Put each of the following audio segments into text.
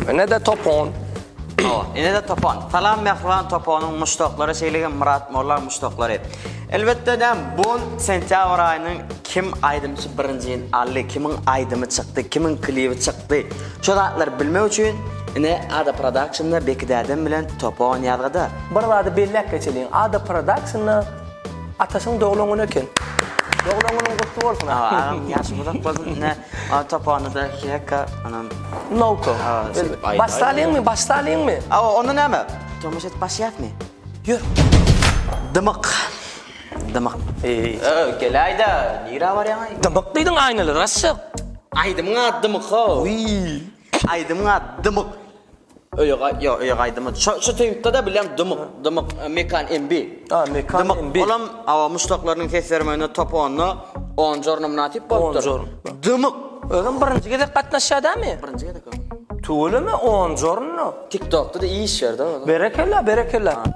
Ene de topon. Awa, ene de topon. Salam Mehriban toponyň muşdaklary, şeýle-de Murat Molla muşdaklary. Elbetde de bu sentýabr aýynyň kim aýdymçy birinji ýyl aldy, kimiň aýdymy çykdy, kimiň klibi çykdy. Şo zatlary bilmek üçin ine Ada Productionda Beki dädem bilen topan ýazgyda. Bir zady belläp geçeliň Ada Productionda Ataşyň doglan güni eken. Doglan günüň gutly bolsun Ada. Hawa agam ýaşyň uzak bolsun ine topanda iki hekka anam. Nowko. Baş salyňmy baş salyňmy. Hawa onda näme tomaşa edip başlaýasmy. Ýör. Dymyk. Dymyk. Eý. Öý, geläý-dä, nirä barýaň-aý? Dymyk diýdiň aýnaly raşşak. Aýdymyň ady Dymyk-how. Wiý. Aýdymyň ady Dymyk. Öýe gaý, ýok, öýe gaýdyma. Şo, şo teýpde-de bilýän Dymyk, Dymyk, Mekan MB. A, Mekan MB. Dymyk, olam awa muşdaklarynyň ses bermeginde top onda on jorna mynasyp bolupdyr. On jorna. Dymyk. Özem birinji gezek gatnaşýar dämi? Birinji gezek-ow. Tüweleme, on jorna. Tiktokda-da iş ýer-de ol. Berekella, berekella.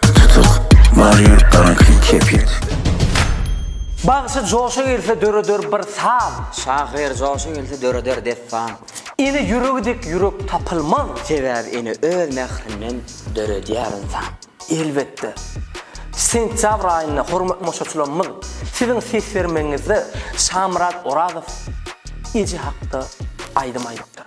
Tutuk, bar ýurtlaryň kyn kepyt. Bagşy joşa gelse döreder bir saz. Şahyr joşa gelse döreder dessan. Ene ýüregi dek ýürek tapylmaz. Sebäbi ene öz mährinden döredýär ynsan. Elbetde, sentýabr aýynda hormatly maşaçylarymyz siziň ses bermegiňizde Şamyrat Orazow eje hakda aýdym aýdypdyr.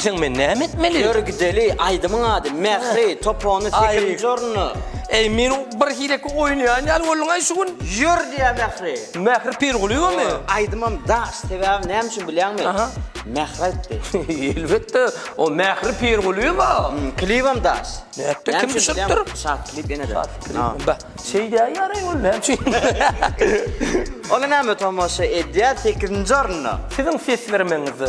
diýseň men näme etmeli? Ýör gideli, aýdymyň ady Mähri, topony 8-nji orny. Ey, men bir hileki oýnaýan ýaly boldum aý şu gün. Ýör diýä Mähri. Mähri Pirgulyýewami? Aýdymam daş, sebäbi näme üçin bilýäňmi? Aha. Mähri aýtdy. Elbetde, o Mähri Pirgulyýewa. Klibem daş. Nätdi, kim düşüripdir? Şat klip ýene-de. Şat klip. Bä, şeýdýär ýaryn ol, näme üçin? Olar näme tomaşa edýär, sekizinji orunda. Siziň ses bermegiňizde.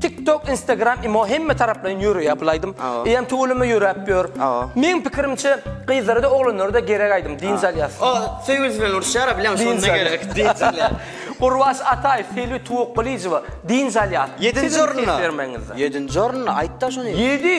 Tik tok instagram imo hemme taraplaýyn ýöreýär bul aýdym. Eýýäm tüweleme ýöräp ýör. Meň pikirimçe gyzlarada oglanlarda gerek aýdym dynç alýas. O söýgülisi bilen uruşýara bileň şonda gerek dynç alýar. Gurbaş Ataýew Selbi Tuwakgylyjowa dynç alýas. Ýedinji orunda. Ýedinji orunda aýtda şony. Ýedi.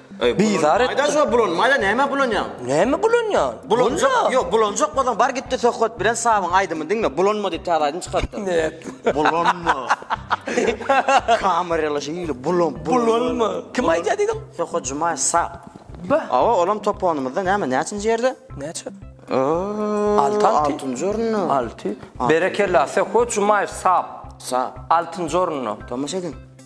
Bizar etdi. Aýdaş o bulan maýda näme bulanýaň? Näme bulanýaň? Bulanjak. Ýok, bulanjak bolsaň bar gitde söhbet bilen Sabyň aýdymy diňle. Bulanma diýip täze aýdym çykartdyr. Näet. Bulanma. Kameraly şeýle bulan bulanma. Kim aýdýar diýdiň? Söhbet Jumaýew Sap. Ba. Awa, olam toponymyzda näme näçinji ýerde? Näçe? Alty alty. Altynjy orunda. Alty. Berekella Söhbet Jumaýew Sap. Sap. Altynjy orunda. Tomaşa ediň.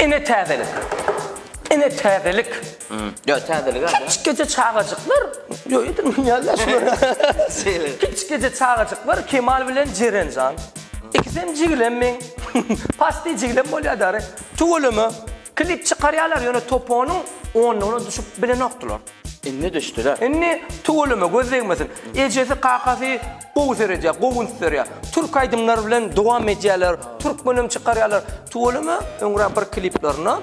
Ine täzelik. Ine täzelik. Ýa täzelik-ä. Kiçgeje çagajyklar. Ýo ýa dünýäde şular. Kiçgeje çagajyklar Kemal bilen Jerenjan. Ikisem jigilem meň. Pasty jigilem bolýar dary. Tüweleme. Klip çykarýarlar ýöne toponyň onlugyna düşüp bilenokdylar. Indi düşdüler. Indi tüweleme göz degmesin. Ejesi kakasy gowy seredýär, gowy üns berýär. Türk aýdymlary bilen dowam edýärler. Türkmenem çykarýarlar. Tüweleme öňräk bir kliplerinde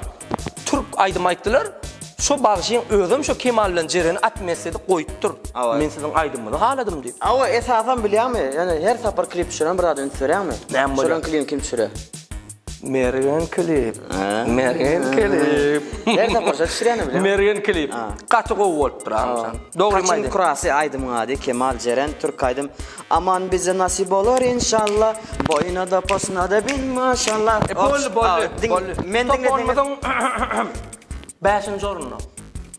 türk aýdym aýtdylar. Şo bagşyň özem şo Kemal bilen Jereni at mesledi goýupdyr. Men siziň aýdymyňyzy haladym diýip. Awa esasan bilýäňmi? Ýöne her sapar klip düşüren bir zada üns berýäňmi? Näme bolýar? Şolaň klibini kim düşürýär? Mergen klip. Mergen klip. Nerede koşa düşüreni bile. Mergen klip. Gaty gowy bolupdyr Agamjan. Dogry maýda. Kaçyn kurasy aýdymyň ady Kemal Jeren türk aýdym Aman bize nasip bolar inşalla Boýnada posnada bin maşalla Boldy boldy boldy Top onumyzyň bäşinji orunda.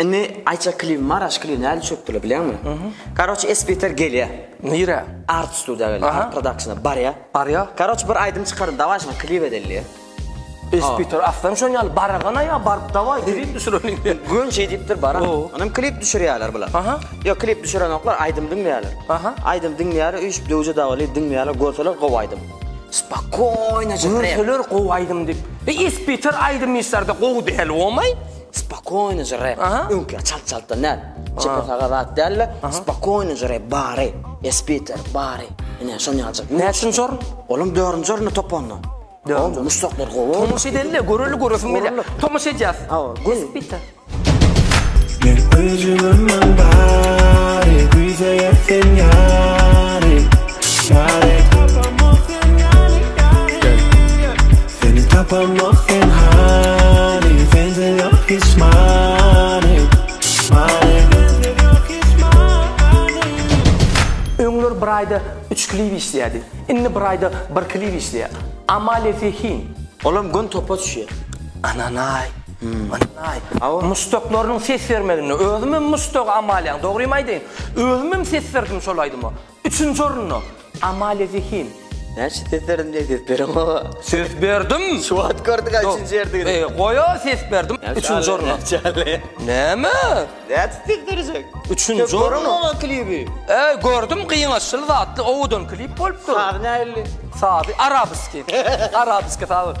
Indi Aýça klibi bar, aş klibi nädip çökdüler bilýäňmi? Karoç Esbiter gelýä. Nirä? Art studia gelýä, Art Productiona barýa. Barýa. Karoç bir aýdym çykardy, dawaý şuňa klip edeli diýýä. Esbiter aslam şon ýaly baragana ýa baryp dawaý klip düşürelim diýýä. Göni şeý diýipdir baran. Onam klip düşürýäler bular. Ýok klip düşürenoklar, aýdym diňleýäler. Aýdym diňleýäler, üýşüp döwje dawaly diňleýäler, görseler gowy aýdym. Spokoýnaja. Görseler gowy aýdym diýip. Esbiter aýdym işlerde gowy däl omaý. Spokoýno žre, öňküä çalt çaltdan däl. Çepe saga zat dälle, spokoýno žre bary, espiter bary. Ine şony aljak. Näçinji orun? Olam dördünji orunda topanda. Dördünji. Muşdaklar gowy. Tomus edelle, göreli göresim gelýä. Tomus edýäs. Hawa, gül. Espiter. Men öjügimden bary, güýzeye sen ýary, ýary. Seni tapamok sen hani Sende yok hiç mani Mani Sende yok hiç mani Öňler bir aýda üç klip işleýärdi. Indi bir aýda bir klip işleýär. Amalia Zehin. Olam gün topa düşýär. Ananaý. Ananaý. Hawa. Muşdaklarynyň ses bermeginde özüm hem muşdag Amaliýaň. Dogrymy aýdaýyn? Özüm hem ses berdim şol aýdyma. Üçünji orunda, Amalia Zehin. Näçe ses berdim diýen ses berem a. Ses berdim. Şu wagt gördük a üçünji ýerdigini. E goý a ses berdim. Üçünji orunda. Näme? Näçe ses berjek? Üçünji orunda. Görüň a klibi. E gördüm gyňaçyl zatly owadan klip bolupdyr. Sazy nähilli? Sazy arabiski. Arabiski sazy.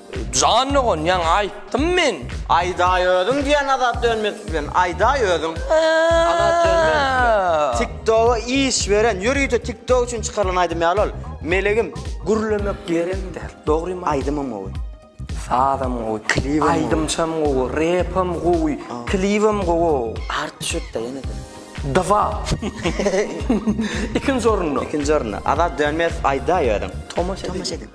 Jan dogan ýaňy aýtdym men. Aýdaý özüň diýen Azat Dönmezow bilen aýdaý özüň Azat Dönmezow bilen. Tik toga iş beren ýörite tik tok üçin çykarylan aýdym ýaly ol Melegim. Gürlemek ýerim däl dogrym aý. Aýdymam gowy. Sazam gowy. Klibem gowy. Aýdymçam gowy. Repem gowy. Klibem gowow. Artdy şutda ýenede. Dwa. Ikinji orunda. Ikinji orunda. Azat Dönmezow aýdaý özüň. Tomaş ediň.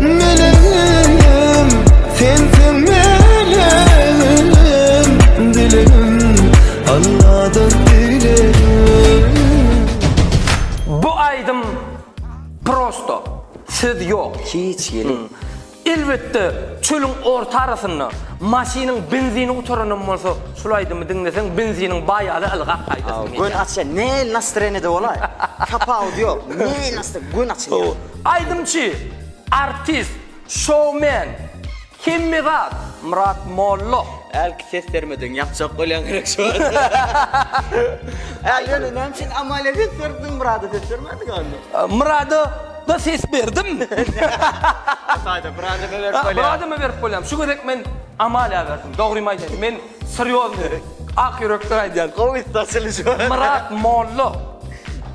Meleğim, sensiň meleğim, dilegim, Alladan dilegim. Bu aýdym prosto, söz ýok. Hiç ýeli. Elbetde çölüň orta arasynda maşynyň benzini gutaranam bolsa şul aýdymy diňleseň benziniň baýaly ylgap gaýdasyň gelýär. Gün açyl näl nastreniýede bolaý. Kapaut ýok. Näl nastr gün açylýar. Aýdymçy, artist, şoumen, hemme zat Myrat Molla. Älki ses bermediň ýapjak bolýaň gerek şu wagt. Äl ýöne näme üçin Amalia ses berdiň Myrada ses bermädiňä onda. Myrada da ses berdim. Taýda Myrada berip bolýar. Myrada berip bolýar. Şu gezek men Amalia berdim. Dogrymy aýdaýyn men. Syrýozny, ak ýürekden aýdýan. Gowy açylyş bar. Myrat Molla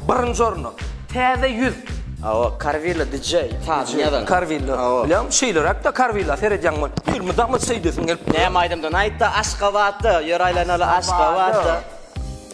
birinji orunda. Täze ýüz. Hawa, Karwilla DJ sazyn ýazan. Karwilla. Bilýän, şeýleräk-de Karwilla seredýän bol. Elmydama şeýdesiň gelip dur. Näme aýdymdan aýtda Aşgabatda ýör aýlanaly Aşgabatda.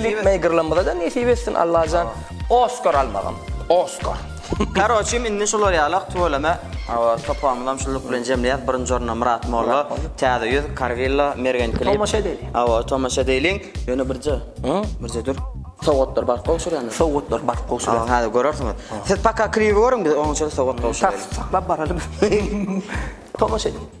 Klip meýgirlamyzada nesip etsin Allajan Oskar almagam Oskar. Karoçim indi şular ýalak tüweleme Hawa topamyzam şullyk bilen jemleýäs birinji orunda Myrat Molla Täze ýüz Karwilla Mergen klip Tomaşa edeliň Hawa tomaşa edeliň Ýöne birje birje dur Sowgatlar baryp gowşurýandyr Sowgatlar baryp gowşurýandyr Hawa häzir görersiňiz Siz paka klibi görüň biz oňa çenli sowgat gowşuraýlyň Saklap baralyň Tomaşa edeliň.